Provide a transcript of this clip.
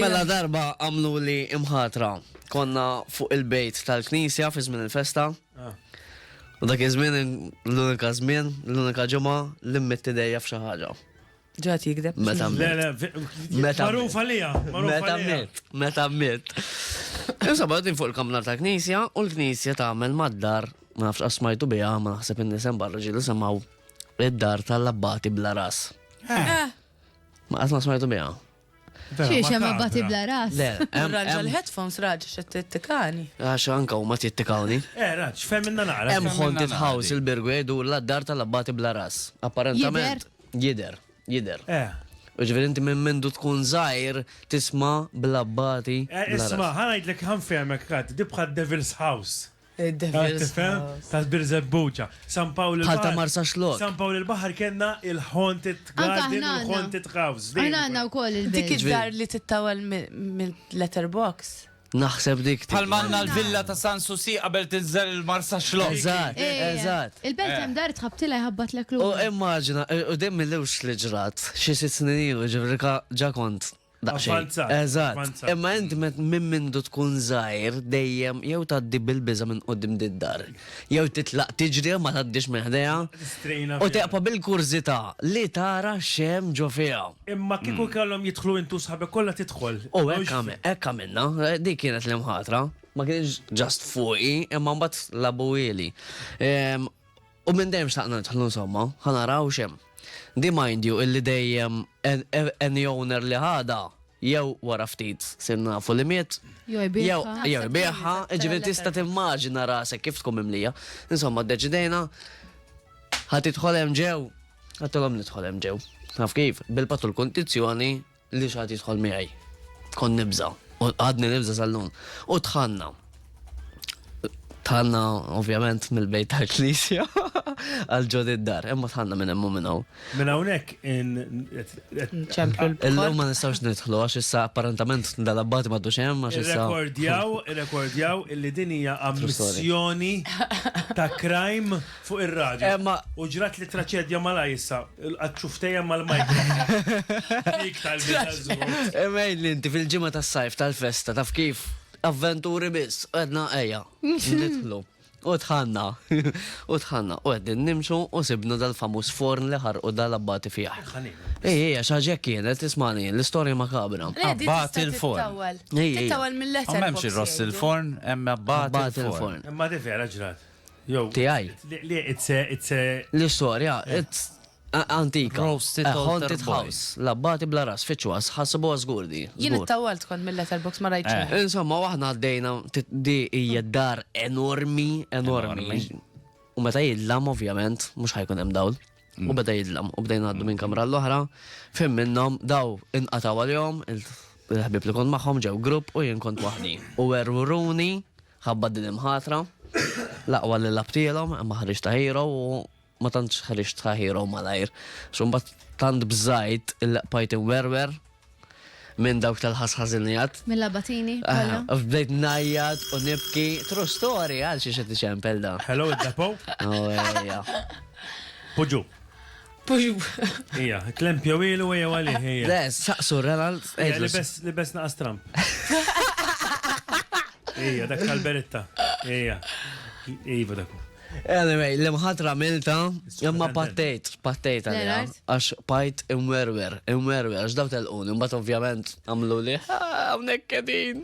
Mela darba għamlu li imħatra. Konna fuq il-bejt tal-knisja fi żmien il-festa. Ah. U dak iż-żmien l-unika żmien, l-unika ġimgħa li mmett idejja f'xi ħaġa. Ġat jikdeb. Meta mmett. Meta mmett. Meta mmett. Meta mmett. Insomma, għadin fuq il-kamna ta' knisja u l-knisja ta' għamel mad-dar, ma nafx asmajtu bija, ma naħseb in-nisem barra ġilu semaw id-dar tal-labbati bla ras. Eh. Eh. Ma qatt ma smajtu biha. Xie xem abbati bla ras. Le, Ranġa l-headphones raġ xe t-tikani. Għax anka u ma t-tikani. Eh, raġ, fem minna naqra. Em ħonti tħaws il-birgu jgħidu l-addar tal-abbati bla ras. Apparentament. Jider. Jider. Eh. Uġveri inti minn mindu tkun zaħir tisma bla abbati. Eh, isma, ħanajdlek ħanfemek kat, dibħad Devil's House. Tifhem? Ta' Birżebbuġa. San Pawl il-Baħar. Bħal ta' Marsaxlokk. San Pawl il-Baħar kellna il-Haunted Garden u l-Haunted House. Aħna għandna wkoll il-Belt. Dik id-dar li tittawwal mill-letter box. Naħseb dik. Bħal ma għandna l-Villa ta' San Susi qabel tinżel il-Marsaxlokk. Eżatt, eżatt. Il-Belt hemm dar tħabbtilha jħabbatlek lura. U immaġina, u dejjem mill-ewwel li ġrat, xi sitt snin ilu, ġifieri ġa kont Eżatt. Imma int minn mindu tkun żgħir dejjem jew tgħaddi bil-biża' minn quddiem did-dar, jew titlaq tiġri ma tgħaddix minn ħdejha. U teqpa' bil-kurżità li tara x'hemm ġo fiha. Imma kieku kellhom jidħlu int u sħabek kollha tidħol. U hekk għamilna. Dik kienet l-imħatra. Ma kienx just fuqi, imma mbagħad l-abuwieli. U minn dejjem xtaqna nidħlu insomma, ħa naraw x'hemm. Di mind you illi dejjem any owner li ħadha jew wara ftit sir nafu li miet, jew ibiegħha, jiġifieri tista' timmaġina rasek kif tkun mimlija. Insomma ddeċidejna ħa tidħol hemm ġew, għedtilhom nidħol hemm ġew. Taf kif, bil-patt u l-kundizzjoni Li xi ħadd jidħol miegħi. Kont nibża', u għadni nibża' sal-lum. U dħalna. Dħalna ovvjament mill-bejt tal-Knisja għal ġod id-dar, imma dħalna minn hemm u minn hawn. Minn hawnhekk Illum ma nistgħux nidħlu għax issa apparentament dal-abbati ma dux hemm għax issa. Irrekordjaw, irrekordjaw illi din hija ammissjoni ta' crime. Fuq ir-radju. Emma. U ġrat li traċedja malaj issa, għadċufteja mal-majka. Dik tal-bizzazzu. Emejn li inti fil-ġimma tas-sajf tal-festa taf kif avventuri biss, għedna eja, nidħlu. U tħanna, u tħanna, u għeddin nimxu u sibna dal-famus forn li ħarqu dal-abbati fieħ. Ej, ej, xaġek kienet, ismani, l-istoria makabra. Abbati il-forn. Tittawal mill-letter. Ma memx il-ross il-forn, emma abbati il-forn. Ma di vera ġrat. tiegħi. L-istorja antika. A haunted house. L-abbati bla ras, fittxuha, ħassibuha żgur di. Jien ittawwalt kont mil-letterbox ma rajtx xejn. Insomma, u aħna għaddejna, di hija dar enormi, enormi. U meta jidlam ovvjament, mhux ħa jkun hemm dawl. U beda jidlam, u bdejna ngħaddu minn kamra l-oħra, fim minnhom daw inqatgħu għalihom, il-ħbieb li kont magħhom ġew grupp u jien kont waħdi. U werwruni Ħabba din imħatra, l-aqwa li labtilhom imma ħriġt ta' hero u ma tantx ħriġt ta' hero malajr. Xumbat tant bżajt il-laqpajt werwer minn dawk tal-ħasħazinijat. Minn labatini? Ah, bdejt najjat u nibki. True story, għal xie xed iċempel da. Hello, id-depo? Oh, Puġu. Ija, klemp jew ilu jew għalih ija. Le, saqsu Renald. Li bes naqas Trump. Ija, dak tal-beritta. Ija. Iva dak. Anyway, l-imħatra milta, imma pattejt, pattejt għalija. Għax pajt imwerwer, imwerwer, għax daw tal-un, imbat ovvjament għamlu li, għamnek kedin.